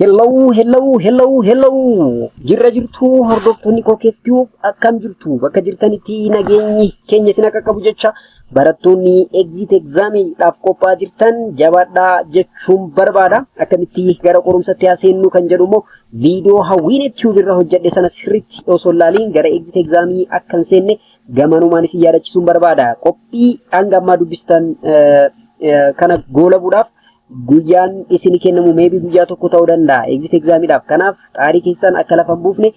Hello, hello, hello, hello. Jirra jirtu hordoftoonni koo keeftuu akkam jirtu bakka jirtanitti nageenyi keenya isin akka qabu jecha barattoonni exit examiidhaaf qophaa'aa jirtan jabaadhaa jechuun barbaada. Akkamitti gara qorumsatti haa seennu kan jedhu immoo viidiyoo hawwiin tube irra hojjedhe sana sirriitti osoo hin laaliin gara exit examii akka hin seenne Gamanumaan isin yaadachisuun barbaada. Qophii hanga ammaa dubbistan kana goolabuudhaaf guyyaan isin kennamu meebii guyyaa tokko ta'uu danda'a. Exit exaamiidhaaf. Kanaaf xaarii keessan akka lafa hin buufne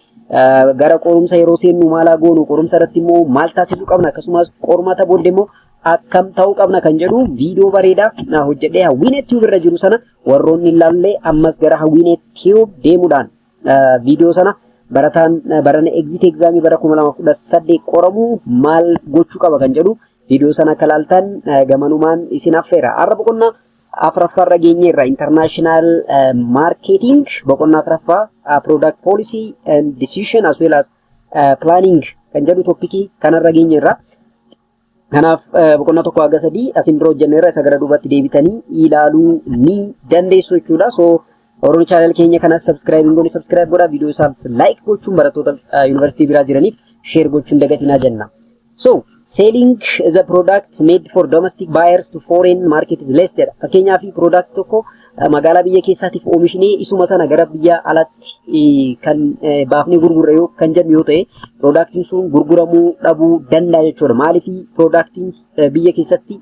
gara qorumsa yeroo seennu maalaa goonu qorumsa irratti immoo maal taasisuu qabna akkasumas qormata booddee immoo akkam ta'uu qabna kan jedhu viidiyoo bareedaa hojjedhee hawwiinee tiyuub irra jiru sana warroonni hin laallee ammas gara hawwiinee tiyuub deemuudhaan Viidiyoo sana barataan barana exit exaamii bara 2018 qoramu maal gochuu qaba kan jedhu viidiyoo sana akka laaltan gamanumaan isin affeera. Har'a boqonnaa afraffaarra geenyeerra international marketing boqonnaa afraffaa product policy and decision as well as planning kan jedhu toppikii kanarra geenyeerra. Kanaaf boqonnaa tokko haga sadii asin dura hojjenneerra isa gara duubatti deebitanii ilaaluu ni dandeessu jechuudha. So Oromoo chaanal keenya kanas subscribe hin goone subscribe godhaa viidiyoo isaas like gochuun barattoota yuunivarsiitii biraa jiraniif share gochuun dagatinaa jenna. So selling the product made for domestic buyers to foreign market is less jedha. Fakkeenyaaf product tokko magaalaa biyya keessaatiif oomishni isuma sana gara biyya alatti kan baafnee gurgurre yoo kan jennu yoo ta'e piroodaaktiin sun gurguramuu dhabuu danda'a jechuudha. Maaliif piroodaaktiin biyya keessatti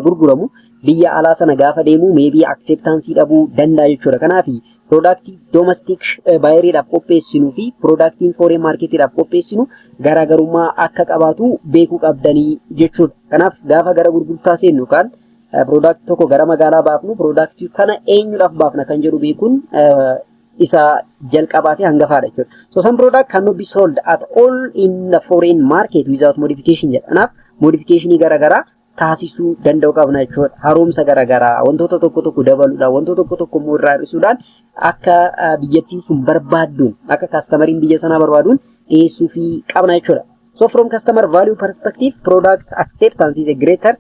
gurguramu biyya alaa sana gaafa deemu meebii akseeptaansii dhabuu danda'a jechuudha. Kanaaf piroodaaktii doomastik baayiriidhaaf qopheessinuu fi piroodaaktiin fooreen maarkeetiidhaaf qopheessinu garaagarummaa akka qabaatu beekuu qabdanii jechuudha. Kanaaf gaafa gara gurgurtaa seennu kan Piroodaaktii tokko gara magaalaa baafnu piroodaaktii kana eenyudhaaf baafna kan jedhu beekuun isa jalqabaa fi hangafaadha jechuudha. So some product cannot be sold at all in the foreign market without modification jedha. Kanaaf modification garaagaraa taasisuu danda'u qabna jechuudha. Haaromsa garaagaraa wantoota tokko tokko dabaluudhaan wantoota tokko tokko immoo irraa hir'isuudhaan akka biyyattiin sun barbaadduun akka kaastamariin biyya sanaa barbaaduun dhiyeessuu fi qabna jechuudha. So from customer value perspective product acceptance is a greater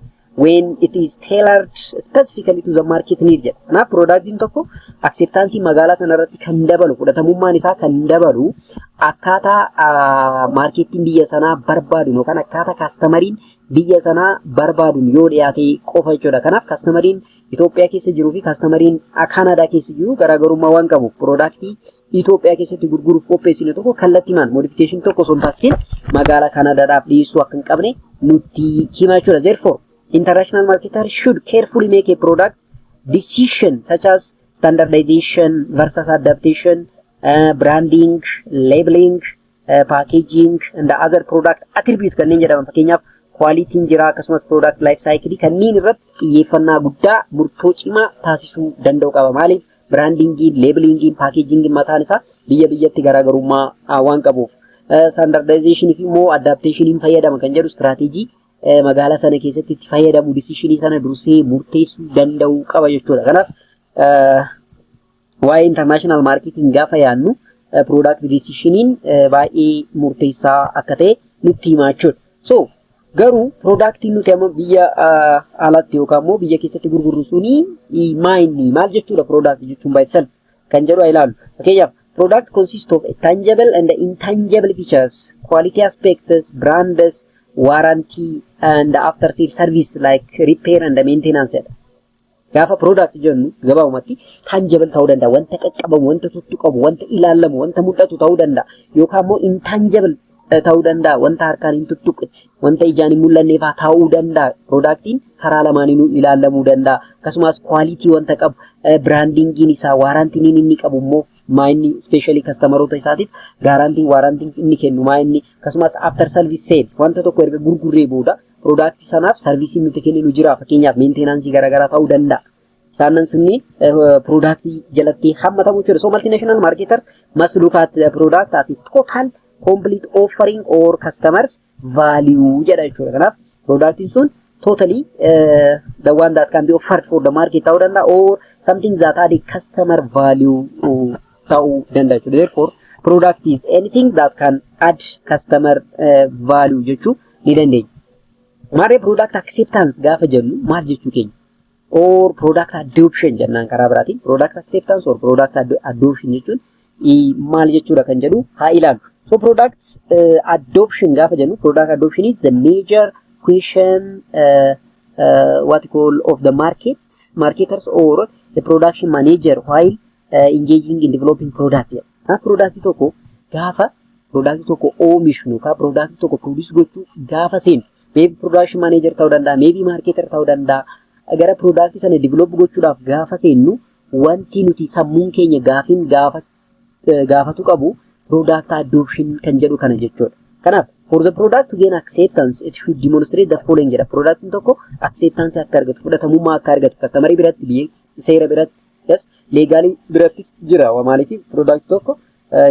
when it is tailored specifically to the market need jedha. Kanaaf piroodaaktiin tokko akseptaansii magaalaa sanarratti kan dabalu fudhatamummaan isaa kan dabalu akkaataa maarkeettiin biyya sanaa barbaadun yookaan akkaataa kaastamariin biyya sanaa barbaadun yoo dhiyaate qofa jechuudha. Kanaaf kaastamariin Itoophiyaa keessa jiruu fi kaastamariin Kaanaadaa keessa jiru garaagarummaa waan qabuuf piroodaaktii Itoophiyaa keessatti gurguruuf qopheessine tokko kallattimaan moodifikeeshin tokko osoo hin taasisin magaalaa Kaanaadaadhaaf dhiyeessuu akka hin qabne nutti himaa jechuudha. Therefore, international marketer should carefully make a product decision such as standardization versus adaptation, uh, branding, labeling, packaging and other product attribute kanneen jedhaman fakkeenyaaf kwaalitiin jira akkasumas product life cycle kanneen irratti xiyyeeffannaa guddaa murtoo cimaa taasisuu danda'u qaba maaliif biraandingiin leebilingiin packaging mataan isaa biyya biyyatti garaagarummaa waan qabuuf standardization fi immoo adaptation fayyadama kan jedhu strategy magaalaa sana keessatti itti fayyadamu disishinii sana dursee murteessuu danda'u qaba jechuudha kanaaf Waa'ee international marketing gaafa yaannu product decision baay'ee murteessaa akka ta'e nutti himaa jechuudha. So garuu productiin nuti amma biyya alatti yookaan immoo biyya keessatti gurgurru suni maa inni maal jechuudha product jechuun by itself kan jedhu ilaalu. Fakkeenyaaf product consists of tangible and intangible features, quality aspects, brands, warranty and after sale service like repair and maintenance jedha. Gaafa product jennu gabaabumatti tangible ta'uu danda'a. Wanta qaqqabamu, wanta tuttuqamu, wanta ilaalamu, wanta mul'atu ta'uu danda'a. Yookaan immoo intangible ta'uu danda'a. Wanta harkaan hin tuttuqne, wanta ijaan hin mul'anne fa'aa ta'uu danda'a. Productiin karaa lamaaniinuu ilaalamuu danda'a. Akkasumas quality wanta qabu, brandingiin isaa, waarantiin inni qabu immoo maa inni ispeeshaalii kastamaroota isaatiif gaarantiin waarantiin inni kennu maa inni akkasumas after service sale wanta tokko erga gurgurree booda product sanaaf sarviisiin nuti kenninu jira fakkeenyaaf meenteenaansii garaagaraa ta'uu danda'a. Isaanan sunniin product jalatti hammatamu jechuudha. So multinational marketer must look at the product as a total complete offering or customers value jedha jechuudha. Kanaaf productiin sun totally uh, the one that can be offered for the market ta'uu danda'a or something that had a customer value uh, ta'uu danda'a jechuudha. Therefore product is anything that can add customer uh, value jechuu ni dandeenya. Maarree product acceptance gaafa jennu maal jechuu keenya? Or product adoption jennaan karaa biraatiin product acceptance or product adoption jechuun maal jechuudha kan jedhu haa ilaalu. So product uh, adoption gaafa jennu product adoption is the major question uh, uh, what you call of the market marketers or the production manager while engaging in developing product jedha. Kanaaf product tokko gaafa product tokko oomishnu yookaan product tokko produce gochuu gaafa seenu maybe production manager ta'uu danda'a, maybe marketer ta'uu danda'a. Gara product sana develop gochuudhaaf gaafa seennu wanti nuti sammuun keenya gaafiin gaafa gaafatu qabu product adoption kan jedhu kana jechuudha. Kanaaf for the product to gain acceptance it should demonstrate the following jedha. Product tokko acceptance akka argatu fudhatamummaa akka argatu customer biratti biyya seera biratti Yes, leegaalii birattis jira. Waa maaliif product tokko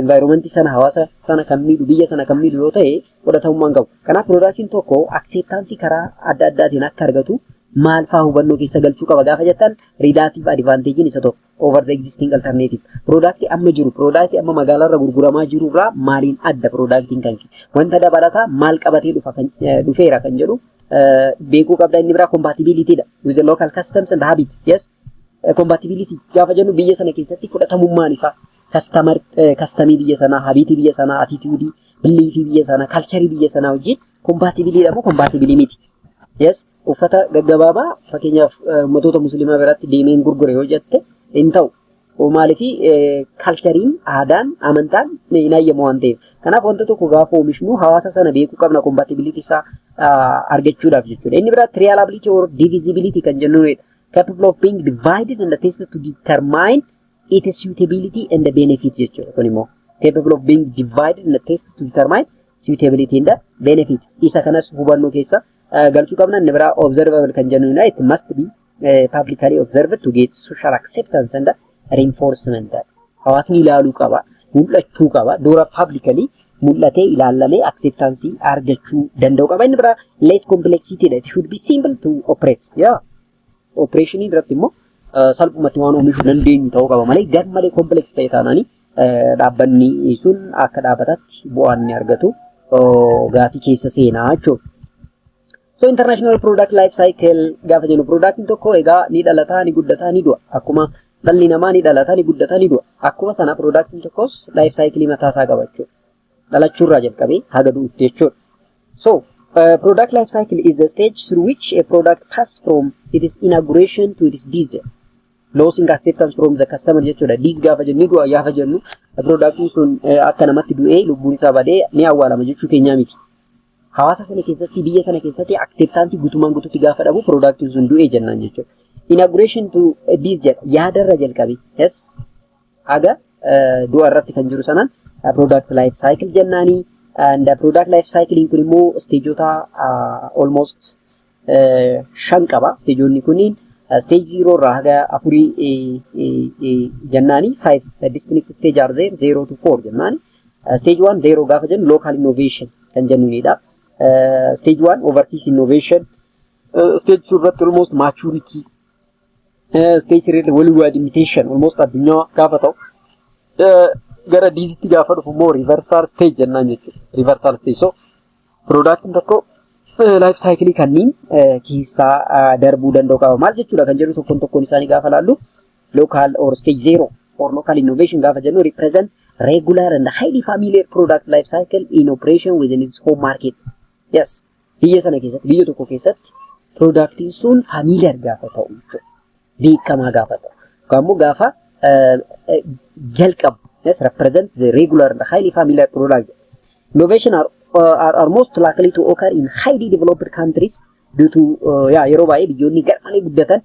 environment sana hawaasa sana kan miidhu biyya sana kan miidhu yoo ta'e fudhatamummaa hin qabu. Kanaaf productiin tokko acceptance karaa adda addaatiin akka argatu maal fa'aa hubannoo keessa galchuu qaba gaafa jettan relative advantage'n isa tokko over the existing alternative. Productii amma jiru productii amma magaalarra gurguramaa jiru irraa maaliin adda productiin kan kee wanta dabalataa maal qabatee dhufa kan dhufeera kan jedhu beekuu qabda inni biraa compatibility dha with the local customs and habits. Yes. Compatibility gaafa jennu biyya sana keessatti fudhatamummaan isaa kastamar kastamii biyya sanaa, habiitii biyya sanaa, atiituudii, biliifii biyya sanaa, kalcharii biyya sanaa wajjin kompaatibiliidha moo kompaatibilii miti? Yes, uffata gaggabaabaa fakkeenyaaf ummatoota musliimaa biratti deemeen gurgure yoo jette hin ta'u. Maaliif kalchariin, aadaan, amantaan hin hayyamu waan ta'eef. Kanaaf wanta tokko gaafa oomishnu hawaasa sana beekuu qabna kompaatibiliitii isaa argachuudhaaf jechuudha. Inni biraa trialability or divisibility kan jennuudha. capable of being divided and tested to determine its suitability and the benefit jechuudha kun immoo capable of being divided and tested to determine suitability and the benefit isa kanas hubannoo keessa eh, galchuu qabna inni biraa observable kan jennuudha it must be eh, publicly observed to get social acceptance and the reinforcement hawaasni ilaaluu qaba, mul'achuu qaba, dura publicly mul'atee ilaallamee acceptance argachuu danda'u qaba. Inni biraa less complexity dha. It should be simple to operate. Yeah. Operation irratti immoo uh, salphumatti waan oomishuu dandeenyu ta'uu qaba malee gar malee complex ta'e taanaanii uh, dhaabbanni sun akka dhaabbataatti bu'aan ni argatu uh, gaafii keessa seenaa jechuudha. So international product life cycle gaafa jennu productiin tokko egaa ni dhalata ni guddata ni du'a akkuma dhalli namaa ni dhalata ni guddata ni du'a akkuma sana productiin tokkos life cycle mataa isaa qaba jechuudha. Dhalachuurraa jalqabee haga du'utti jechuudha. So uh, product life cycle is the stage through which a product passes from its inauguration to its death. Losing acceptance from the customer jechuudha. Death gaafa jennu ni du'a gaafa jennu productiin sun uh, akka namatti du'ee lubbuun isaa badee ni awwaalama jechuu keenyaa miti. Hawaasa sana keessatti biyya sana keessatti acceptance guutummaan guututti gaafa dhabu product sun du'e jennaan jechuudha. Inauguration to this jedha yaadarra jalqabi. Yes. Haga du'a irratti kan jiru sanaan product life cycle jennaani. And product life cycle kun immoo stageota almost shan qaba. Isteejoonni kunniin stage zero irraa haga afurii jennaani five distinct stage are there zero to four jennaani. Stage one zero gaafa jennu local innovation kan jennuunidha. Stage one overseas innovation. Stage two irratti almost maturity. Stage three irratti worldwide imitation almost addunyaa gaafa ta'u. Gara diizitti gaafa dhufu immoo reversal stage jennaan jechuudha. Reversal stage so Piroodaaktiin tokko laayif saayikilii kanneen keessaa darbuu danda'u qaba. Maal jechuudha kan jedhu tokkoon tokkoon isaanii gaafa laallu lookaal or stage zero or lookaal innovation gaafa jennu represent regular and highly familiar product life cycle in operation within its home market. Yes. Biyya sana keessatti biyya tokko keessatti piroodaaktiin sun familiar gaafa ta'u jechuudha. beekamaa gaafa ta'u yookaan immoo gaafa jalqabu yes represent the regular and highly familiar plural innovation are, are, are most likely to occur in highly developed countries due to uh, yeah, yeroo baay'ee biyyoonni garmalee guddatan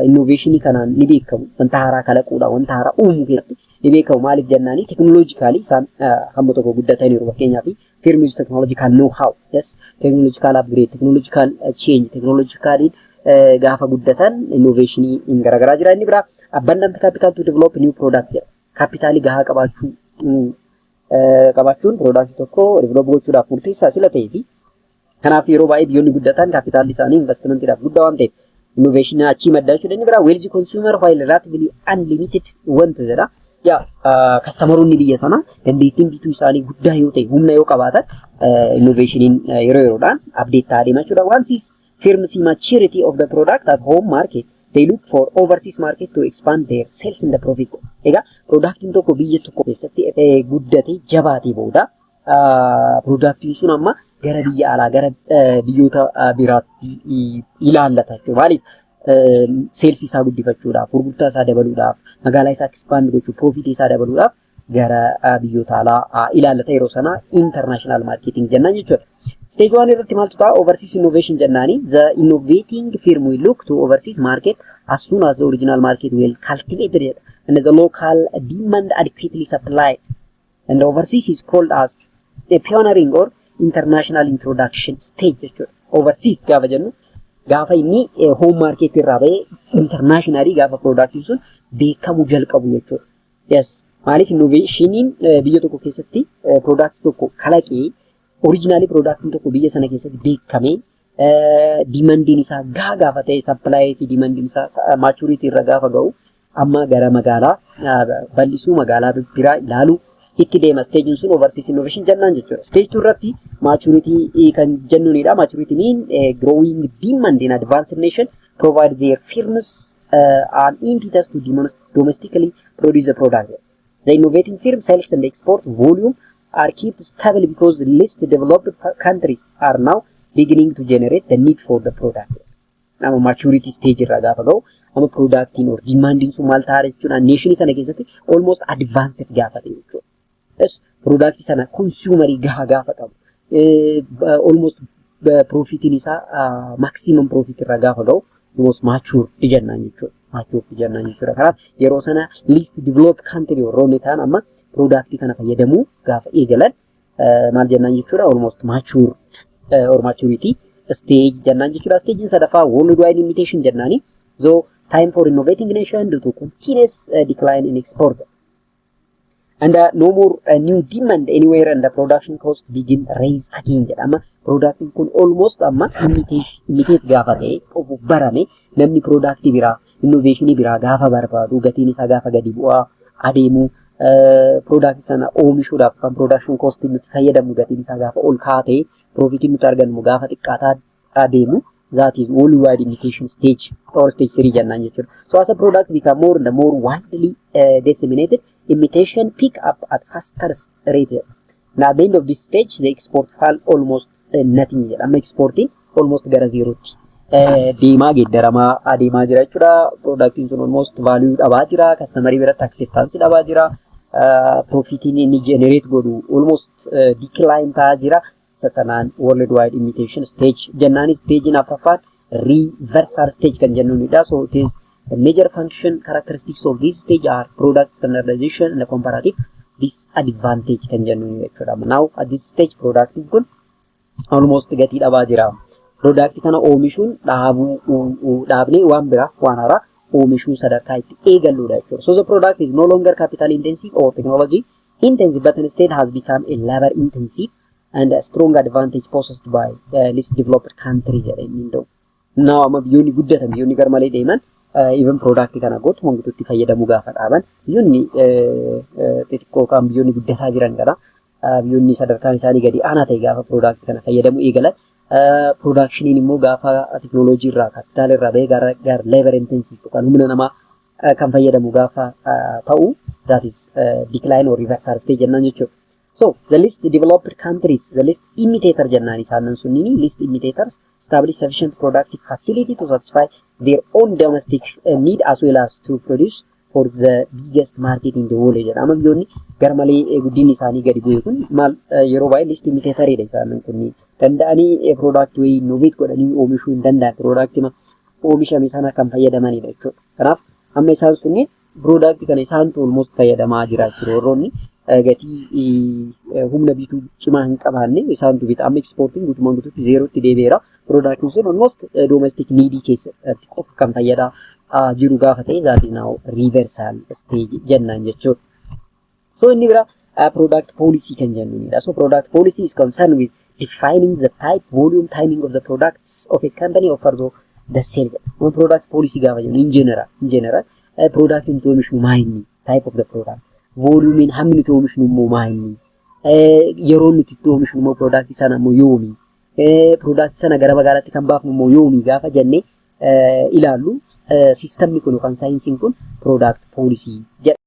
innoveeshinii kanaan ni beekamu wanta haaraa kalaquudha wanta haaraa uumuu keessatti ni beekamu maaliif jennaanii teknooloojikaalii isaan hamma tokko guddataniiru fakkeenyaaf term is technological know how yes technological upgrade technological uh, change technological uh, gaafa guddatan innovation in garagaraa jira inni biraa abundant capital to develop new product jedha kapitaalii gahaa qabaachuu uh, qabaachuun product tokko develop gochuudhaaf murteessaa sila ta'ee fi Kanaaf yeroo baay'ee biyyoonni guddatan kaapitaalli isaanii investimantiidhaaf guddaa waan ta'eef innoveeshinii achii madda jechuudha. Inni biraa weelji konsuumer waayil raatibilii anlimited wanta jedha. Yaa kastamaronni biyya sanaa dandeettiin bituu isaanii guddaa yoo ta'e humna yoo qabaatan innoveeshiniin yeroo yeroodhaan abdeet ta'aa deema jechuudha. Wansis firm see maturity of the product at home market they look for overseas market to expand their sales in the profit. Egaa production tokko biyya tokko keessatti guddatee jabaatee booda Piroodaaktiin sun amma gara biyya alaa gara biyyoota biraatti ilaallata jechuudha. Maaliif? Seelsii isaa guddifachuudhaaf, gurgurtaa isaa dabaluudhaaf, magaalaa isaa ekspaand gochuuf, piroofitii isaa dabaluudhaaf gara biyyoota alaa ilaallata yeroo sana international marketing jennaan jechuudha. Stage one irratti maaltu ta'a? Overseas innovation jennaani. The innovating firm will look to overseas market as soon as the original market will cultivated and the local demand adequately supplied. And overseas is called as a pioneering or international introduction stage jechuudha. Overseas gaafa jennu gaafa inni home market irraa ba'ee internationally gaafa productiin sun beekamuu jalqabu jechuudha. Yes. Maaliif innovationin biyya tokko keessatti product tokko kalaqee originally productiin tokko biyya sana keessatti beekamee dimandiin isaa gaa gaafa ta'e sappilaayii fi dimandiin isaa maachuriitii irra gaafa ga'u Amma gara magaalaa bal'isuu magaalaa biraa ilaaluu itti deema. Steejiin sun overseas innovation jennaan jechuudha. Stage two irratti maturity kan jennuunidha. Maturity mean growing demand in advanced nation provide their firms an impetus to domestically produce the product. The innovating firm sales and export volume are kept stable because the least developed countries are now beginning to generate the need for the product. Nama maturity stage irraa gaafa ga'u amma productiin or demanding sun maal ta'a jechuudha nation sana keessatti almost advanced gaafa ta'e jechuudha. Yes, product sana consumer gaha gaafa qabu almost profitiin isaa maximum profit irraa gaafa ga'u almost mature jennaan jechuudha. Mature jennaan jechuudha. Kanaaf yeroo sana least developed country warroonni ta'an amma product kana fayyadamuu gaafa eegalan maal jennaan jechuudha almost matured or maturity stage jennaan jechuudha stagein sadaffaa worldwide limitation jennaani so time for innovating nation due to continuous uh, decline in export and uh, no more uh, new demand anywhere and the production cost begin raise again jedhama production kun almost amma imitate gaafa ta'e qofu barame namni product biraa Innoveeshinii biraa gaafa barbaadu gatiin isaa gaafa gadi bu'aa adeemu piroodaaktii sana oomishuudhaaf kan piroodakshin koostiin nuti fayyadamnu gatiin isaa gaafa ol ka'aa ta'e piroofitiin nuti argannu gaafa xiqqaataa adeemu that is all wide indication stage or stage three jennaan jechuudha. So as a product become more and more widely uh, disseminated, imitation pick up at faster rate. Now at the end of this stage, the export fall almost natiin jedha. Amma ekspoortiin almost gara zeerootti deemaa geeddaramaa adeemaa jira jechuudha. Piroodaaktiin sun almost vaaluu dhabaa jira. Kastamarii biratti akseeptaansii dhabaa jira. Piroofitiin inni jenereet godhu almost dikilaayinii ta'aa jira. Isa sanaan world wide imitation stage jennaanis stagein afraffaan reversal stage kan jennuunidha. So it is the major function characteristics of this stage are product standardization and comparative disadvantage kan jennuun jechuudha. Now at this stage product kun almost gatii dhabaa jira. Product kana oomishuun dhaabuu dhaabnee waan biraa waan haaraa oomishuu sadarkaa itti eegalluudha jechuudha. So the product is no longer capital intensive or technology intensive but instead has become a labor intensive and a strong advantage possessed by uh, least developed country jedhee inni hunda'u. Naa amma biyyoonni guddatan biyyoonni garmalee deeman even product kana gootu mangituutti fayyadamuu gaafa dhaaban biyyoonni xixiqqoo kan biyyoonni guddataa jiran kana biyyoonni sadarkaan isaanii gadi aanaa ta'e gaafa product kana fayyadamuu eegalan production immoo gaafa teknooloojii irraa kaapitaala irraa bahee gara gara labor intensive yookaan humna namaa kan fayyadamu gaafa ta'u that is decline or reversal stage jennaan jechuudha. So the least developed countries, the least imitator jennaan isaanan sunniin least imitators establish sufficient productive facility to satisfy their own domestic uh, need as well as to produce for the biggest market in the world jedha. Amma biyyoonni garmalee eh, guddinni isaanii gadi bu'e kun maal eh, yeroo baay'ee least imitator dha isaanan kunniin. Danda'anii eh, product way innovate godhanii oomishuu hin danda'an product ma oomishame sana kan fayyadamanidha jechuudha. Kanaaf amma isaan sunniin product kana isaantu almost fayyadamaa jira jechuudha. Warroonni gatii humna bituu cimaa hin qabaanne isaantu bita. Amma exportiin guutumaan guutuutti zeerootti deebi'eera. Productiin sun almost domestic needii keessatti qofa kan fayyadaa jiru gaafa ta'e that is now reversal stage jennaan jechuudha. So inni bira uh, product policy kan jennuunidha. So product policy is concerned with defining the type, volume, timing of the products of a company offer to the sale. Kun product policy gaafa jennu in general, in general uh, product nuti oomishnu maa inni, type of the product, volume hammi nuti oomishnu immoo maa inni, uh, yeroo nuti itti oomishnu immoo product sana immoo yoomi, uh, product sana gara magaalaatti kan baafnu immoo yoomi gaafa jennee uh, ilaallu uh, sistemni kun yookaan saayinsiin kun product policy jedha.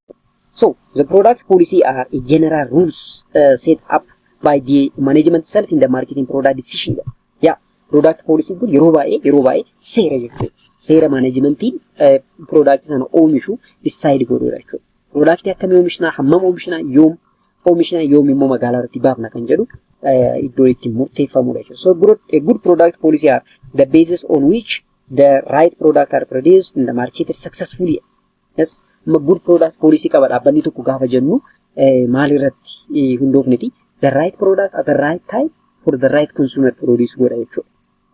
So, the product policy are a general rules uh, set up by the management itself in the marketing product decision. Yeah, product policy kun yeroo baay'ee yeroo baay'ee seera jechuudha. Seera managementiin uh, product sana oomishu decide godhuudha jechuudha. Product akkamii oomishnaa, hammam oomishnaa, yoom oomishnaa, yoom immoo magaalaa irratti baafna kan jedhu uh, iddoo itti murteeffamudha jechuudha. So, good, a good product policy are the basis on which the right product are produced in the market successfully. Yes, good product policy qaba dhaabbanni tokko gaafa jennu maalirratti hundoofneti the right product at the right time for the right consumer produce godha jechuudha.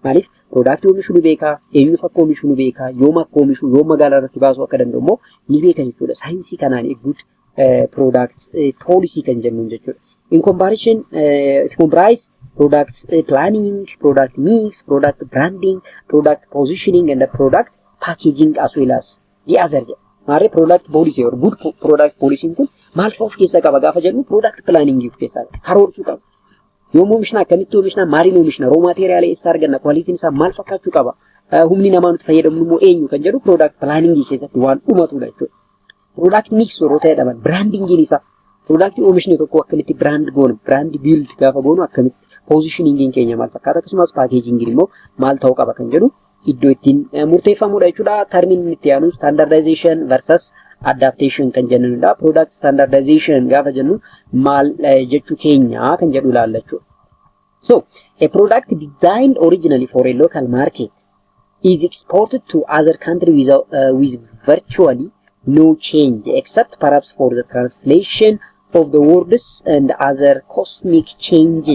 Maaliif product oomishuu ni beekaa, eenyuuf akka oomishuu ni beekaa, yoom akka oomishuu, yoom magaalaa irratti baasuu akka danda'u immoo ni beeka jechuudha. Saayinsii kanaan eeguutti product policy kan jennuun jechuudha. In comparison, it comprise product planning, product mix, product branding, product positioning and product packaging as well as Yaazar jedha. Maarree product policy or good po- product policy kun maal fa'aa of keessaa qaba gaafa jedhu product planning of keessaa qaba. Karoorsuu qaba. Yoom oomishna akkamitti oomishna maaliin oomishna roo maateeriyaalee eessaa arganna kwalitiin isaa maal fakkaachuu qaba eh, humni namaa nuti fayyadamnu immoo eenyu kan jedhu product planning keessatti waan dhumatudha jechuudha. Product mix yeroo ta'e dhaban brandingiin isaa product oomishni tokko akkamitti brand goonu brand build gaafa goonu akkamitti positioningiin keenya maal fakkaata akkasumas paakeejingiin immoo maal ta'uu qaba kan jedhu iddoo ittiin murteeffamudha jechuudha. Tarmiin inni itti aanu standardization versus adaptation kan jennudha. Product standardization gaafa jennu maal jechuu keenya kan jedhu ilaalla jechuudha. So, a product designed originally for a local market is exported to other country without, uh, with virtually no change except perhaps for the translation of the words and other cosmic change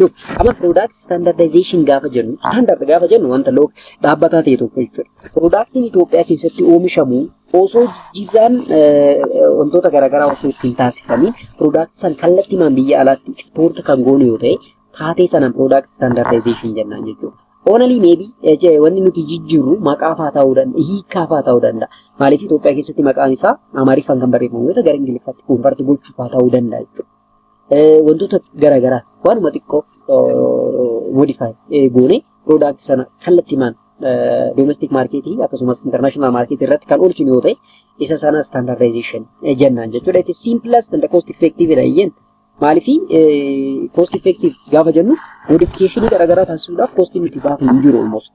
Look, amma product standardization gaafa jennu, standard gaafa jennu wanta look dhaabbataa ta'e tokko jechuudha. Productiin Itoophiyaa keessatti oomishamu osoo jijjiirraan wantoota garaagaraa osoo ittiin taasifamee product san kallattimaan biyya alaatti export kan goonu yoo ta'e taatee sanaan product standardization jennaan jechuudha. Only maybe wanni nuti jijjiirru maqaafaa ta'uu danda'a, hiikaafaa ta'uu danda'a. Maaliif Itoophiyaa keessatti maqaan isaa Amaariffaan kan barreeffamu yoo ta'e gara Ingiliffaatti konfarti gochuufaa ta'uu danda'a jechuudha. wantoota gara garaa waanuma xiqqoo modify goone product sana kallattimaan domestic market akkasumas international market irratti kan oolchinu yoo ta'e isa sana standardization jennaan jechuudha. It is simplest and cost effective dha iyyeen. Maaliif cost effective gaafa jennu modification gara garaa taasisuudhaaf cost nuti baafnu hin jiru almost.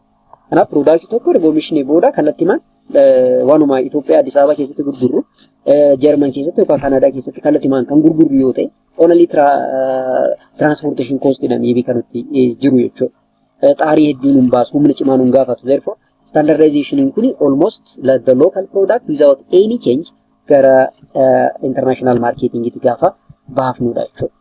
Kanaaf piroodaaktii tokko erga oomishne booda kallattimaan waanuma Itoophiyaa Addis Ababa keessatti gurgurru Jarman keessatti yookaan Kanaadaa keessatti kallattimaan kan gurgurru yoo ta'e onalii tiraanspoorteeshin koostii dha miibii kan itti jiru jechuudha. Xaarii hedduun hin baasu humna cimaan hin gaafatu. Therefore standardization kun almost like the local product without any change gara international marketing itti gaafa baafnudha jechuudha.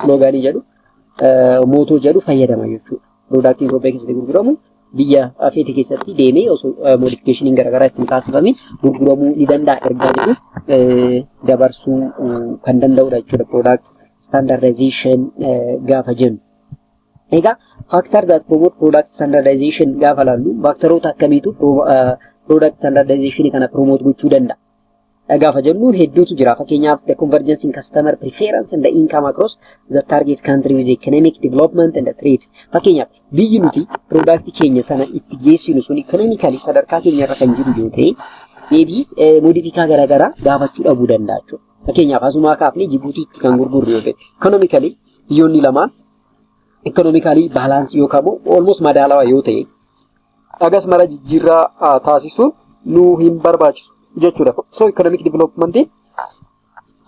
sloogaanii jedhu mootoo jedhu fayyadama jechuudha. Piroodaaktiin Itoophiyaa keessatti gurguramu biyya feete keessatti deemee osoo moodifikeeshiniin garaagaraa ittiin taasifame gurguramuu ni danda'a ergaa jedhu dabarsuu kan danda'udha jechuudha piroodaakt standardization gaafa jennu. Egaa faaktar daat promote product standardization gaafa laallu faaktaroota akkamiitu product standardization kana promote gochuu danda'a? dha gaafa jennu hedduutu jira. Fakkeenyaaf the convergence in customer preference and the income across the target country with economic development and the trade. Fakkeenyaaf biyyi nuti product keenya sana itti geessinu sun economically sadarkaa keenya irra kan jiru yoo ta'e deebii modifikaa garaagaraa gaafachuu dhabuu danda'a jechuudha. Fakkeenyaaf asumaa kaafnee Jibuutiitti kan gurgurru yoo ta'e economically biyyoonni lamaan economically balance yookaan immoo almost madaalawaa yoo ta'e Dhagas mara jijjiirraa taasisuun nu hin barbaachisu jechuudha. So economic development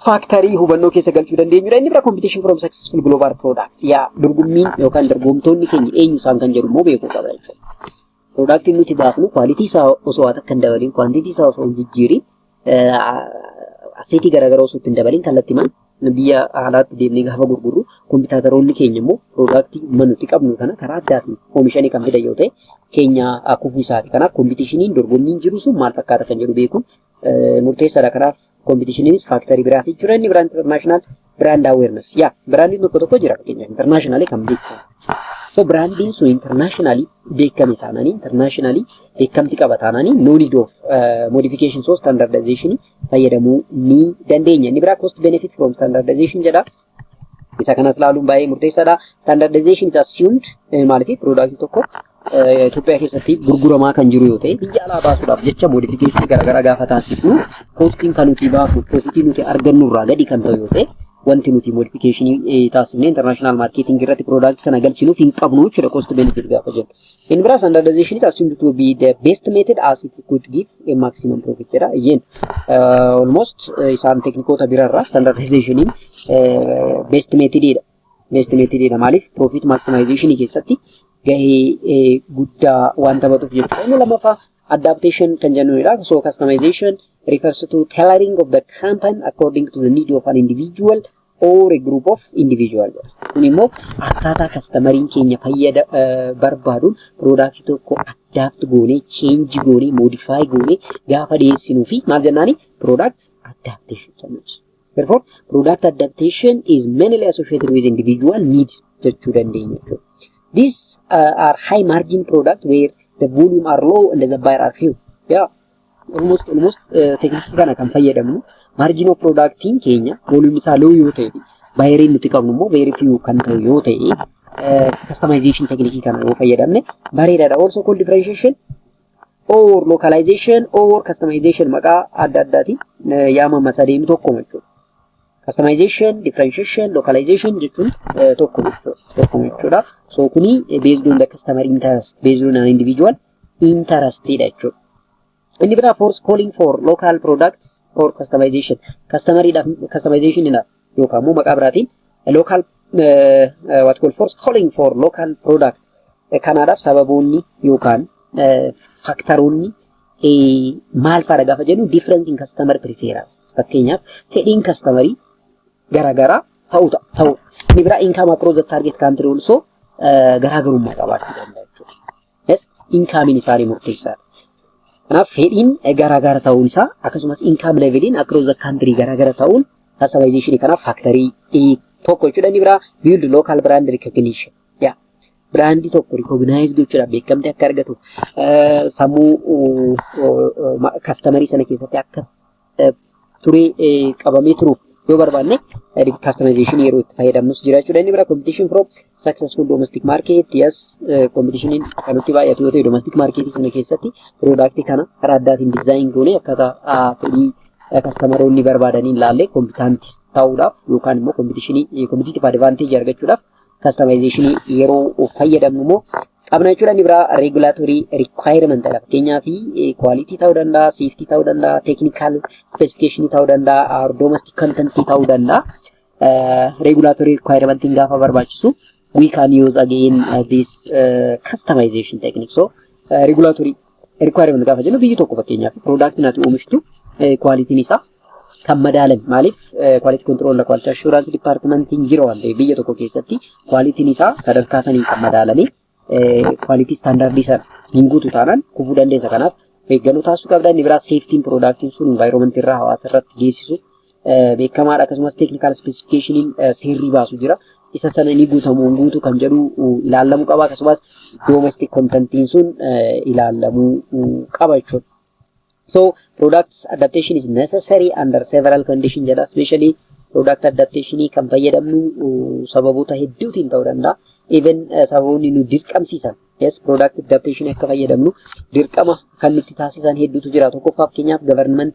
faaktarii hubannoo keessa galchuu dandeenyudha. Inni bira competition from successful global product. Yaa dorgommiin yookaan dorgomtoonni keenya eenyu isaan kan jedhu immoo beekuu qabna jechuudha. Product nuti baafnu quality isaa osoo haa takka hin dabalin, quantity isaa osoo hin jijjiirin Aseetii garaagaraa osoo ittiin dabaliin kallattimaan biyya alaatti deemnee gaafa gurgurru kompiitaataroonni keenya immoo piroodaaktii manutti qabnu kana karaa addaatiin oomishanii kan fidan yoo ta'e keenya kufuu isaati. Kanaaf kompiitishiniin dorgommiin jiru sun maal fakkaata kan jedhu beekuun murteessaadha. Kanaaf kompiitishiniinis faaktarii biraati. Jira inni biraan intarnaashinaal Brand awareness. Yaa biraandiin tokko tokko jira fakkeenyaaf internationally kan beekamu. So biraandiin sun internationally beekame taananii internationally beekamti qaba taananii no need of uh, modification so standardization fayyadamuu ni dandeenya. Inni biraa cost benefit from standardization jedha. Isa kanas ilaaluun baay'ee murteessaadha. Standardization is assumed eh, maaliif product tokko Itoophiyaa keessatti gurguramaa kan jiru yoo ta'e biyya alaa baasuudhaaf jecha moodifikeeshinii garaagaraa gaafa taasifnu koostiin kan nuti baafnu piroofitii nuti argannu irraa gadi kan ta'u yoo ta'e wanti nuti moodifikeeshinii taasifnee intarnaashinaal maarkeetingii irratti piroodaaktii sana galchinuuf hin qabnu jechuudha koosti beenifiit gaafa jennu. Inni biraa standardization is assumed to be the best method as it could give a maximum profit jedha. Again, uh, almost uh, isaan teknikoota biraarraa standardizationiin uh, best method dha. Investimentii dheedha maaliif profit maximization keessatti gahee guddaa waan taphatuuf jechuudha. Inni lammaffaa adaptation kan jennuudha. So customization refers to tailoring of the campaign according to the need of an individual or a group of individual. Kun immoo akkaataa kastamariin keenya fayyada barbaaduun piroodaaktii tokko adapt goonee, change goonee, modify goonee gaafa dhiyeessinuu fi maal jennaani piroodaaktii adaptation jennuudha. Therefore, product adaptation is mainly associated with individual needs jechuu dandeenya jechuudha. These uh, are high margin product where the volume are low and the buyer are few. Yeah. Almost almost uh, teknikii kana kan fayyadamnu margin of productiin keenya volume isaa low yoo ta'e bayeriin nuti qabnu immoo very few kan ta'u yoo ta'e uh, customization teknikii kana yoo fayyadamne bareedaadha. Also called differentiation or localization or customization maqaa adda addaati yaamama sadeen tokkuma jechuudha. Customization, differentiation, localization jechuun tokko tokkuma jechuudha. So kuni based on the customer interest, based on an individual interest dha jechuudha. Inni biraa force calling for local products or customization. Customer customization dha. yookaan immoo maqaa biraatiin local uh, uh, what call force calling for local product Eh, kanaadhaaf sababoonni yookaan eh, faktaroonni eh, maal faadha gaafa jennu difference in customer preference fakkeenyaaf fedhiin kastamarii garaagaraa ta'u ta'a ta'u inni biraa income across the target country also eh, garaagarummaa qabaachuu danda'a jechuudha. Yes, inkaamiin isaanii murteessaadha. Kanaaf fedhiin garaagara ta'uun isaa akkasumas inkaam leeveliin across the country garaagara ta'uun kastamayizeshinii kanaaf faaktarii tokko jechuudha inni biraa build local brand recognition. Yeah. Biraandii tokko rikooginaayiz gochuudhaaf beekamtii akka argatu sammuu kastamarii sana keessatti akka turii qabamee turuuf yoo barbaanne customization yeroo itti fayyadamnus jira jechuudha. Inni bira competition from successful domestic market yes competitioniin kan nutti baay'atu yoo ta'e domestic market sana keessatti product kana karaa addaatiin design goonee akkaataa fedhii kastamaronni barbaadaniin laallee kompitantis ta'uudhaaf yookaan immoo competitionii competitive advantage argachuudhaaf customization yeroo fayyadamnu immoo qabna jechuudha. Inni biraa regulatory requirement dha. Fakkeenyaaf quality ta'uu danda'a, safety ta'uu danda'a, technical specification ta'uu danda'a, or domestic content ta'uu danda'a. Regulatory requirement gaafa barbaachisu we can use again this customization technique. So regulatory Requirement gaafa jennu biyyi tokko fakkeenyaaf piroodaaktiin ati oomishtu kwaalitiin isaa kan madaalan maaliif kwaalitii kontiroolaa kwaalitii ashuuraansii dipaartimantiin jira waan ta'eef biyya tokko keessatti kwaalitiin isaa sadarkaa saniin kan madaalame kwaalitii istaandaardii sana hin guutu taanaan kufuu dandeessa kanaaf eeggannoo taasisuu qabda inni biraa seeftiin piroodaaktiin sun invaayiroomantii irraa hawaasa irratti geessisu beekamaadha akkasumas teeknikaal ispeesifikeeshiniin seerri baasu jira. Isa sana ni guutamu hin guutu kan jedhu ilaalamuu qaba akkasumas doomestik kontantiin sun ilaalamuu qaba jechuudha. So products adaptation is necessary under several condition jedha especially product adaptation kan fayyadamnu sababoota hedduutiin ta'uu danda'a. Even sababoonni nu dirqamsiisan yes product adaptation akka fayyadamnu dirqama kan nutti taasisan hedduutu jira. Tokkoffaa fakkeenyaaf government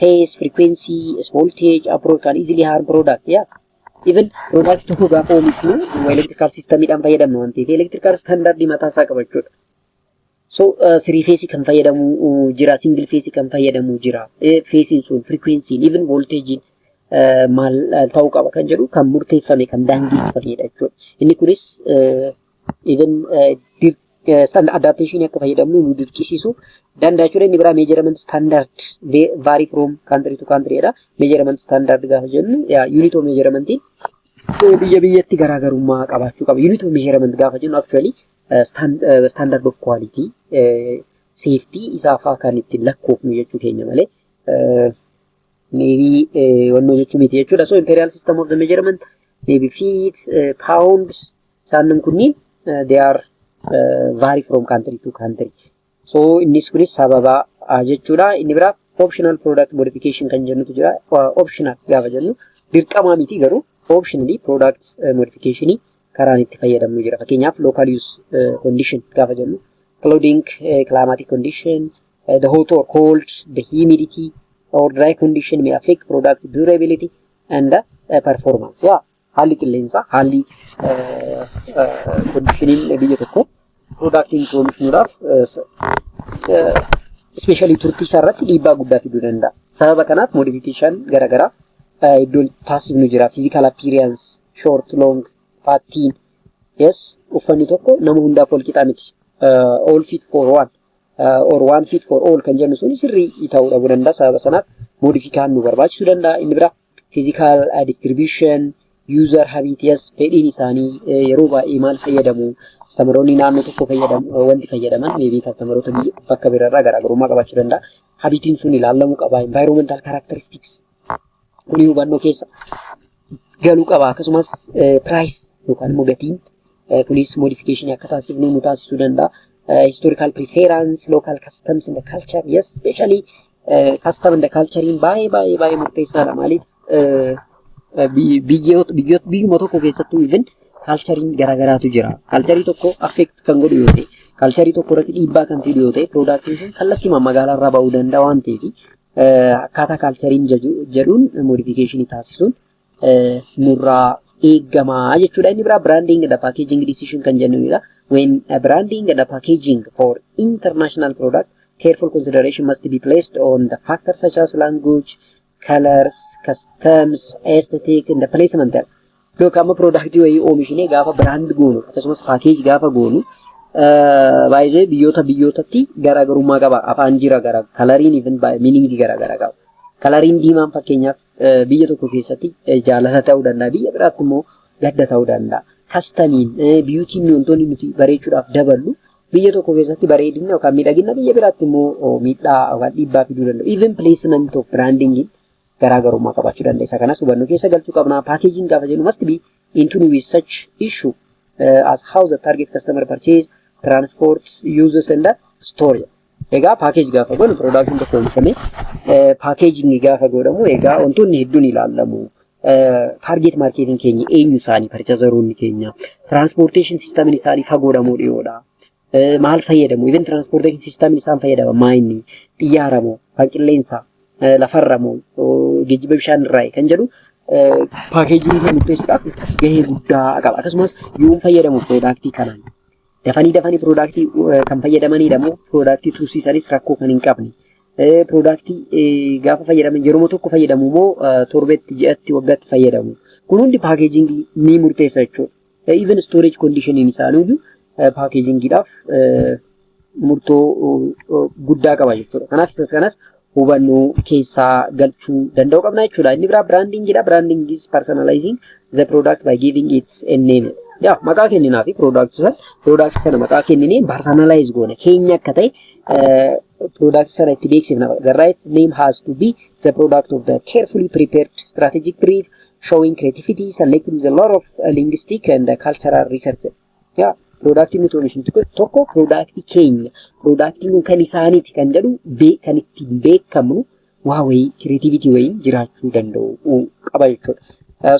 phase, frequency, voltage, approach kan easily harm product ya. Even product tokko gaafa oomishnu electrical system dhaan fayyadamna waan ta'eef electrical standard mataa isaa qaba jechuudha. So three phase kan fayyadamu jira, single phase kan fayyadamu jira. Phase sun frequency even voltage maal ta'uu qaba kan jedhu kan murteeffame kan daangeffamedha jechuudha. Inni kunis even standard adaptation akka fayyadamnu nu dirqisiisu danda'a jechuudha. Inni biraa measurement standard vary from country to country dha. Measurement standard gaafa jennu unit of measurement biyya biyyatti garaagarummaa qabaachuu qaba. Unit of measurement gaafa jennu actually standard of quality safety isaa fa'aa kan ittiin lakkoofnu jechuu keenya malee maybe wannoo jechuu miti jechuudha. So imperial system of the measurement maybe feet, pounds, Isaannin kunniin they are vary from country to country. So innis kunis sababa jechuudha. Inni biraa optional product modification kan jennutu jira. Optional gaafa jennu dirqamaa miti garuu optionally product modification karaan itti fayyadamnu jira. Fakkeenyaaf local use condition gaafa jennu clothing climatic condition the hot or cold the humidity or dry condition may affect product durability and the performance. Yeah. haalli qilleensaa haalli kondishiniin biyya tokko piroodaaktiin itti oomishuudhaaf ispeeshaalii turtii isaa irratti dhiibbaa guddaa fiduu danda'a. Sababa kanaaf moodifikeeshaan garaagaraa iddoon taasifnu jira. Fiizikaal appiiriyans, shoort, loong, faattiin. Yes, uffanni tokko nama hundaaf wal qixaa miti. All fit for one. or one fit for all kan jennu sun sirrii ta'uu dhabuu danda'a sababa sanaaf moodifikaan nu barbaachisuu danda'a inni biraa physical distribution, user habitus, fedhiin isaanii yeroo baay'ee maal fayyadamu, kastamaroonni naannoo tokko fayyadamu, wanti fayyadaman meebii kastamaroota bakka biraarraa garaagarummaa qabaachuu danda'a. Habitiin sun ilaalamuu qaba. Environmental characteristics kuni hubannoo keessa galuu qaba. Akkasumas price yookaan immoo gatiin kunis modification akka taasifnu nu taasisuu danda'a. Historical preference, local customs and culture, yes, especially custom and culture baay'ee baay'ee baay'ee murteessaadha. Maaliif biyyoota biyyuma tokko keessattuu even kaalchariin garaagaraatu jira. Kaalcharii tokko affeekt kan godhu yoo ta'e, kaalcharii tokko irratti dhiibbaa kan fidu yoo ta'e, piroodaaktiin sun kallattimaan magaalaa irraa ba'uu danda'a waan ta'eef akkaataa kaalchariin jedhuun modifiikeeshinii taasisuun nurraa eegama jechuudha. Inni biraa branding and packaging decision kan jennuudha. When a branding and packaging for international product, careful consideration must be placed on the factors such as language, colors, customs, aesthetic and placement. Yookaan amma product wayii oomishinee gaafa brand goonu akkasumas package gaafa goonu baay'ee biyyoota biyyootatti garaagarummaa qaba. Afaan jira gara kalariin even miiningii garaagaraa qaba. Kalariin diimaan fakkeenyaaf Biyya tokko keessatti jaalala ta'uu danda'a. Biyya biraatti immoo gadda ta'uu danda'a. Kastamiin, biyuutiin wantoonni nuti bareechuudhaaf daballu biyya tokko keessatti bareedina yookaan miidhagina biyya biraatti immoo miidhaa yookaan dhiibbaa fiduu danda'u. Even placement of branding garaagarummaa qabaachuu danda'a. Isa kanas hubannoo keessa galchuu qabna. Packaging gaafa jennu must be in tune with such issue uh, as how the target customer purchase, transport, uses and store. Egaa paakeeji gaafa godhu piroodaaktiin tokko oomishame paakeejinni gaafa godhamu egaa wantoonni hedduun ilaalamu. Taargeet maarkeetiin keenya eenyu isaanii parchazaroonni keenya tiraanspoorteeshin siistamiin isaanii fagoodha moo dhiyoodha. Maal fayyadamu? Even tiraanspoorteeshin siistamiin isaan fayyadama maayinni xiyyaara moo kan qilleensa lafarra moo geejjiba bishaan irraa kan jedhu paakeejii murteessuudhaaf gahee guddaa qaba. Akkasumas yoom fayyadamu piroodaaktii kanaan? Dafanii dafanii piroodaaktii kan fayyadamanidha moo piroodaaktii tursiisanis rakkoo kan hin qabne. Piroodaaktii gaafa fayyadaman yeroo tokko fayyadamu moo torbetti, ji'atti, waggaatti fayyadamu. Kun hundi paakeejingii ni murteessa jechuudha. Even storage conditioning isaaniiyyuu paakeejingiidhaaf murtoo guddaa qaba jechuudha. Kanaaf isas kanas hubannoo keessaa galchuu danda'u qabna jechuudha. Inni biraa biraandingiidha. Biraanding is personalizing the product by giving it a name. Yaa maqaa kenninaa fi product sana product sana maqaa kenninee personalize goona keenya akka ta'e product sana itti beeksifna. The right name has to be the product of the carefully prepared strategic brief showing creativity, selecting the lot of linguistic and cultural research. Yaa piroodaaktiin nuti oomishnu tokko piroodaaktii keenya piroodaaktiin kun kan isaaniiti kan jedhu kan ittiin beekamnu waa wayii kireetiivitii wayii jiraachuu danda'u qaba jechuudha.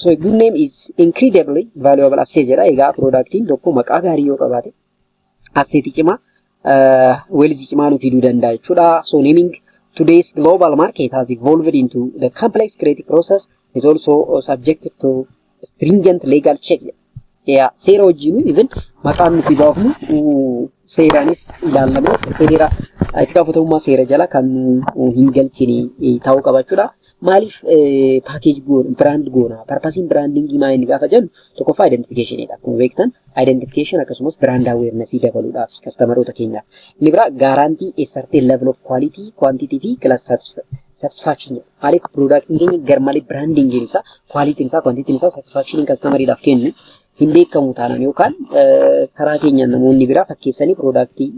So a good name is incredibly valuable asset jedha. Egaa piroodaaktiin tokko maqaa gaarii yoo qabaate asseetii cimaa uh, wealth cimaa nu fiduu danda'a jechuudha. So naming today's global market has evolved into the complex creative process is also subjected to stringent legal check. Yeah, seera wajjin even maqaan nuti baafnu uh, seeraanis ilaallamee seera itti gaafatamummaa seera jala kan nu hin galchine ta'uu qaba jechuudha. Maaliif paakeeji goona, biraand goona, parpasiin biraandingii maa inni gaafa jennu tokkoffaa identifikeeshiniidha. Akkuma beektan identification akkasumas biraand aweernasii dabaluudhaaf kastamaroota keenyaaf. Inni biraa gaaraantii a certain level of quality, quantity fi class satisfaction jedha. Maaliif piroodaaktiin keenya garmalee biraandingiin isaa, kwaalitiin isaa, kwantitiin isaa satisfaakshiniin kastamariidhaaf kennu hin beekamu taanaan yookaan karaa keenyaan namoonni biraa fakkeessanii piroodaaktii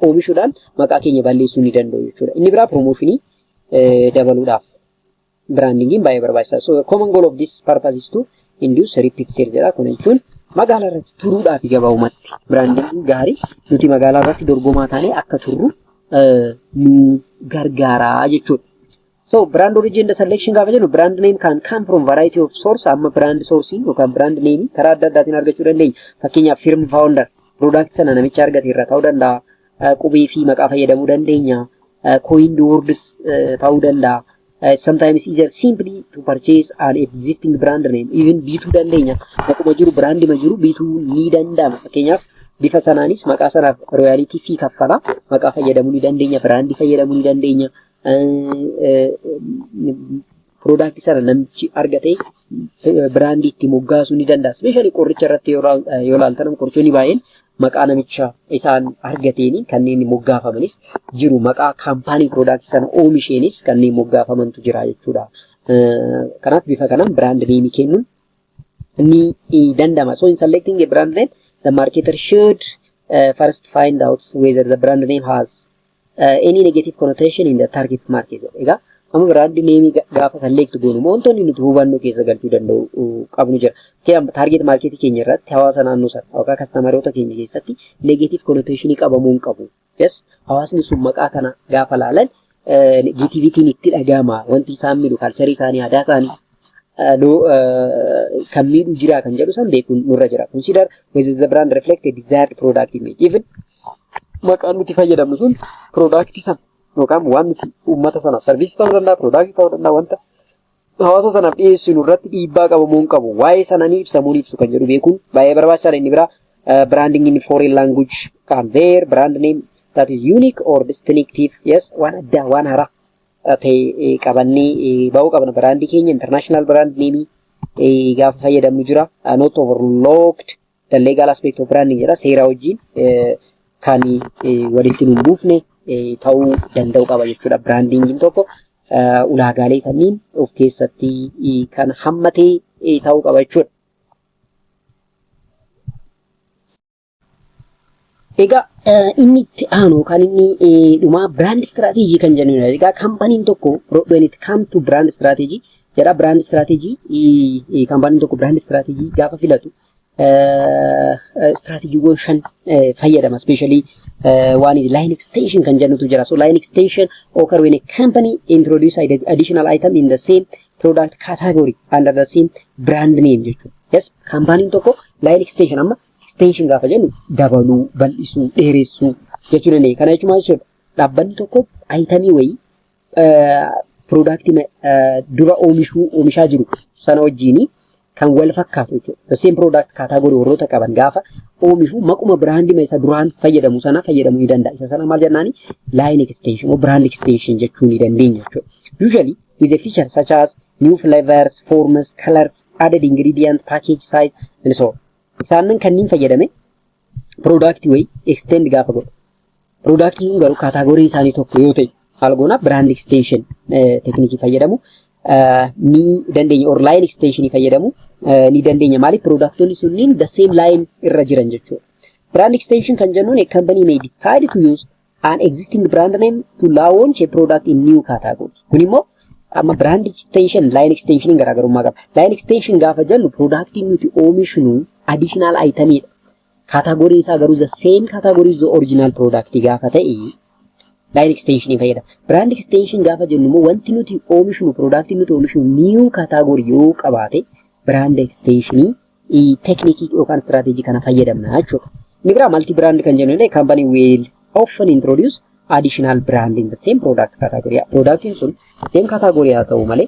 oomishuudhaan maqaa keenya balleessuu ni danda'u jechuudha. Inni biraa piroomooshinii dabaluudhaaf biraandingiin baay'ee barbaachisaa. So common goal of this purpose is to induce repeat sale jedha. Kun jechuun magaalaa irratti turuudhaaf gabaabumatti biraandingiin gaarii nuti magaalaa irratti dorgomaa taanee akka turru nu gargaara jechuudha. So brand origin the selection gaafa jennu brand name can come from variety of source amma brand source yookaan brand name karaa adda addaatiin argachuu dandeenya. Fakkeenyaaf firm founder product sana namicha argate irraa ta'uu danda'a. qubee fi maqaa fayyadamuu dandeenya. Coined words ta'uu danda'a. It's sometimes easier simply to purchase an existing brand name. Even bituu dandeenya. Maquma jiru biraandima jiru bituu ni danda'ama. Fakkeenyaaf bifa sanaanis maqaa sanaaf royaalitii fi kaffala. Maqaa fayyadamuu ni dandeenya. Biraandii fayyadamuu ni dandeenya. piroodaaktii sana namichi argate biraandii itti moggaasuu ni danda'a. Ispeeshaalii qoricha irratti yoo ilaaltan qorichoonni baay'een maqaa namicha isaan argateen kanneen moggaafamanis jiru. Maqaa kaampaanii piroodaaktii sana oomisheenis kanneen moggaafamantu jira jechuudha. Kanaaf bifa kanaan biraand neemii kennuun ni danda'ama. So in selecting a brand name, the marketer should uh, first find out whether the brand name has uh, any negative connotation in the target market jedha. Egaa amma biraandi neemii gaafa select goonu immoo wantoonni nuti hubannoo keessa galchuu danda'u qabnu jira. Fakkeenyaaf target market keenya irratti hawaasa naannoo sana yookaan kastamaroota keenya keessatti negative connotation qabamuu hin qabu. Yes, hawaasni sun maqaa kana gaafa laalan negativitiin itti dhaga'ama wanti isaan miidhu kalcharii isaanii aadaa isaanii nu kan miidhu jiraa kan jedhu san beekuun nurra jira. Consider whether the brand reflect a desired product image. Even maqaan nuti fayyadamnu sun product san yookaan waan nuti uummata sanaaf sarviisii ta'uu danda'a, product ta'uu danda'a wanta hawaasa sanaaf dhiyeessinu irratti dhiibbaa qabu moo hin qabu waa'ee sana ni ibsa moo hin ibsu kan jedhu beekuun baay'ee barbaachisaadha inni biraa branding in foreign language kan their brand name that is unique or distinctive yes waan addaa waan haaraa ta'e qabannee ba'uu qabna biraandii keenya international brand name gaafa fayyadamnu jira not overlocked the legal aspect of branding jedha seera wajjin kan walitti nu buufne ta'uu danda'u qaba jechuudha biraandiingiin tokko ulaagaalee kanneen of keessatti kan hammatee ta'uu qaba jechuudha. Egaa inni itti aanu yookaan inni dhumaa biraand istiraateejii kan jennu egaa kaampaniin tokko when it come to brand strategy jedha brand strategy kaampaniin tokko brand strategy gaafa filatu strateejiiwwan shan fayyadama especially one is line extension kan jennutu jira so line extension occur when a company introduce additional item in the same product category under the same brand name jechuudha yes kaampaniin tokko line extension amma Extension gaafa jennu dabaluu, bal'isuu, dheeressuu jechuu dandeenya. Kana jechuun maal jechuudha? Dhaabbanni tokko ayitamii wayii piroodaaktii dura oomishuu oomishaa jiru sana wajjin kan wal fakkaatu jechuudha. The same product kaataagorii warroota qaban gaafa oomishu maquma biraandima isa duraan fayyadamu sana fayyadamuu ni danda'a. Isa sana maal jennaani? Line extension or brand extension jechuu ni dandeenya jechuudha. Usually with a feature such as new flavors, forms, colors, added ingredient, package size and so on. Isaannan kanniin fayyadame piroodaaktii wayii extend gaafa godhu. Piroodaaktii kun garuu kaataagorii isaanii tokko yoo ta'e haala goonaa biraand extension teknikii fayyadamu ni dandeenya or line extension fayyadamu ni dandeenya maaliif piroodaaktoonni sunniin the same line irra jiran jechuudha. Brand extension kan jennuun a company may decide to use an existing brand name to launch a product in new category. Kun immoo amma brand extension, line extension garaagarummaa qaba. Line extension gaafa jennu product nuti oomishnu additional item dha. Category isaa garuu the same category the original product gaafa ta'e line extension fayyada. Brand extension gaafa jennu immoo wanti nuti oomishnu product nuti oomishnu new category yoo qabaate brand extension teeknikii yookaan istiraateejii kana fayyadamna jechuudha. Inni biraa malti biraand kan jennu illee kaampanii wiil often introduce additional brand in the same product category. Productiin sun same category haa ta'u malee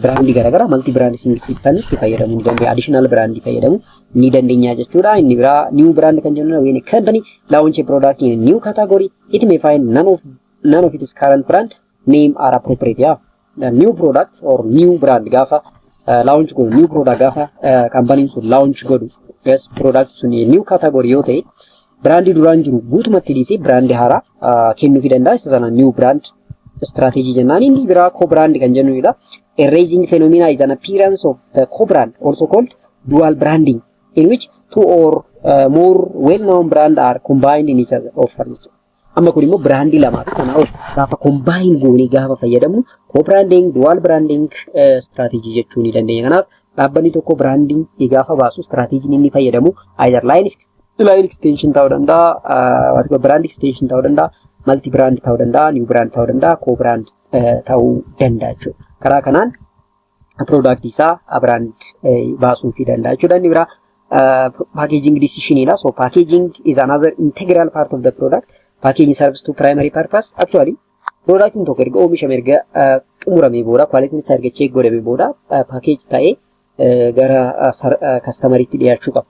biraandii garaagaraa malti biraand siistamnitti fayyadamuu ni dandeenya. Additional biraandii fayyadamuu ni dandeenya jechuudha. Inni biraa new brand kan jennu when a company launch a product in a new category it may find none of none of its current brand name are appropriate yaa uh, new product or new brand gaafa uh, launch godhu new product gaafa uh, company sun launch godhu yes product sun new category yoo ta'e brandii duraan jiru guutumatti dhiisee brandii haaraa uh, kennuufi danda'a isa sana new brand strategy jennaan inni biraa co brand kan jennuudha a raising phenomena is an appearance of the co brand also called dual branding in which two or uh, more well known brand are combined in each other offer jechuudha Amma kun immoo biraandii lamaa fi sanaa ol gaafa kombaayin goonee gaafa fayyadamnu co-branding, dual branding strategy jechuu ni dandeenya. Kanaaf dhaabbanni tokko branding gaafa baasu strategy inni fayyadamu either line line extension ta'uu danda'a, waantota brand extension ta'uu danda'a, multi brand ta'uu danda'a, new brand ta'uu danda'a, co-brand ta'uu danda'a jechuudha. Karaa kanaan product isaa brand baasuu fi danda'a jechuudha. Inni biraa packaging decision dha. So packaging is another integral part of the product. Packaging serves to primary purpose. Actually productiin tokko erga oomishame erga xumuramee booda quality isaa erga check godhamee booda package ta'ee gara kastamariitti dhiyaachuu qaba.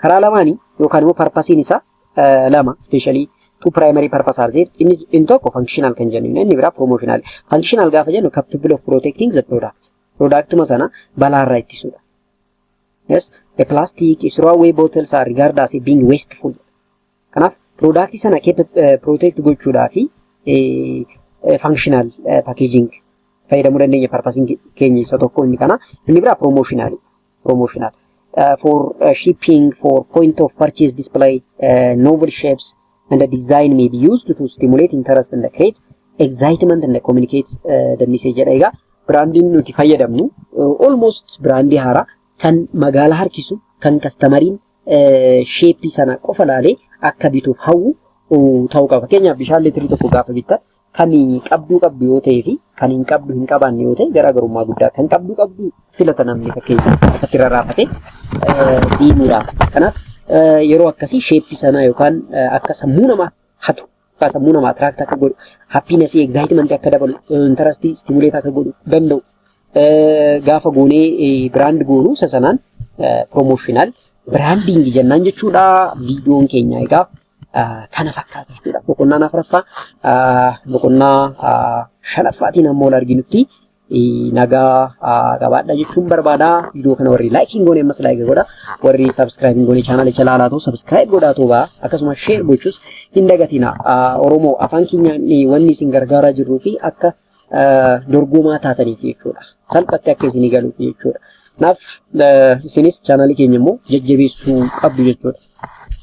Karaa lamaanii yookaan immoo parpasiin isaa eh, lama ispeeshaalii two primary purpose are there. Inni inni tokko functional kan jennu inni biraa promotional. Functional gaafa jennu capable of protecting the product. Productuma sana balaarraa ittisuudha. Yes, a plastic throwaway bottles are regarded as being wasteful. Kanaaf product sana keessa eh, protect gochuudhaa fi eh, eh, functional eh, packaging fayyadamuu dandeenya purpose keenya isa tokko inni kana inni biraa promotional. promotional uh, for uh, shipping for point of purchase display uh, novel shapes and the design may be used to stimulate interest and create excitement and communicate uh, the message jedha egaa biraandiin nuti fayyadamnu uh, almost biraandii haaraa kan magaalaa harkisu kan kastamariin sheeppii sana qofa laalee akka bituuf hawwu ta'uu qaba. Fakkeenyaaf bishaan litrii tokko gaafa bitta kan qabduu qabdu yoo ta'ee fi kan hin qabdu hin qabaanne yoo ta'e garaagarummaa guddaa kan qabduu qabdu filata namni fakkeenyaaf akkatti rarraafate diimuudhaaf. Kanaaf yeroo akkasii sheeppii sanaa yookaan akka sammuu namaa hatu Akka sammuu namaa attract akka godhu, happiness, excitement akka dabalu, interest stimulate akka godhu danda'u. Eh, Gaafa goonee eh, brand goonu isa sanaan eh, promotional branding jennaan jechuudha. Viidiyoon keenya egaa ah, kana fakkaata jechuudha. Boqonnaan afuraffaa ah, boqonnaa ah, shanaffaatiin amma ol arginutti nagaa qabaadha jechuun barbaada. Viidiyoo kana warri laayikii hin goone ammas laayikii godha. Warri sabiskiraayib hin goone chaanaalicha laalaa ta'u sabiskiraayib godhaa ta'u ba'a. Akkasumas sheer gochuus hin dagatina. Oromoo afaan keenyaan wanni isin gargaaraa jirruu fi akka dorgomaa taataniif jechuudha. Salphatti akka isinii galuuf jechuudha. Kanaaf isinis chaanaalii keenya immoo jajjabeessuu qabdu jechuudha.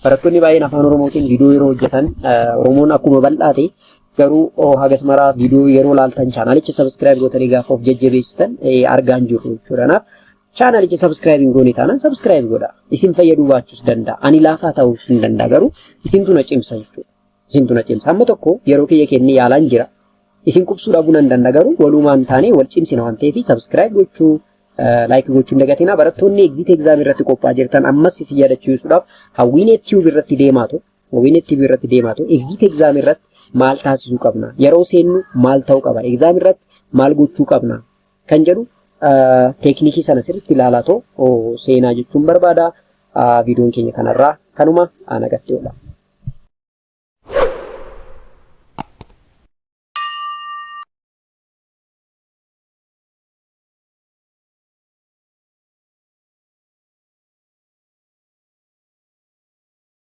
Barattoonni baay'een afaan Oromootiin viidiyoo yeroo hojjetan Oromoon akkuma bal'aate Garuu hagas maraa viidiyoo yeroo laaltan chaanaalicha sabiskiraayib gootanii gaafa of jajjabeessitan argaan jirru jechuudha. Kanaaf chaanaalicha sabiskiraayib hin goone taanaan sabiskiraayib godha. Isin fayyaduu baachuus danda'a. Ani laafaa ta'uus hin danda'a garuu isintu na cimsa jechuudha. Isintu na cimsa. Amma tokko yeroo kiyya kennee yaalaan jira. Isin qubsuu dhabuu nan danda'a garuu walumaan taanee wal cimsina waan ta'eef sabiskiraayib gochuu laayikii gochuu hin dagatinaa. Barattoonni egziit egzaamii irratti qophaa'aa jirtan ammas isin yaadachiisuudhaaf hawwiinee tiyuub irratti deemaa ture. Wine TV irratti deemaa ta'u exit exam irratti maal taasisuu qabna? Yeroo seennu maal ta'uu qaba? Exam irratti maal gochuu qabna? Kan jedhu teeknikii sana sirriitti ilaalaa ta'u seenaa jechuun barbaada. Viidiyoon keenya kanarraa kanuma nagatti oola.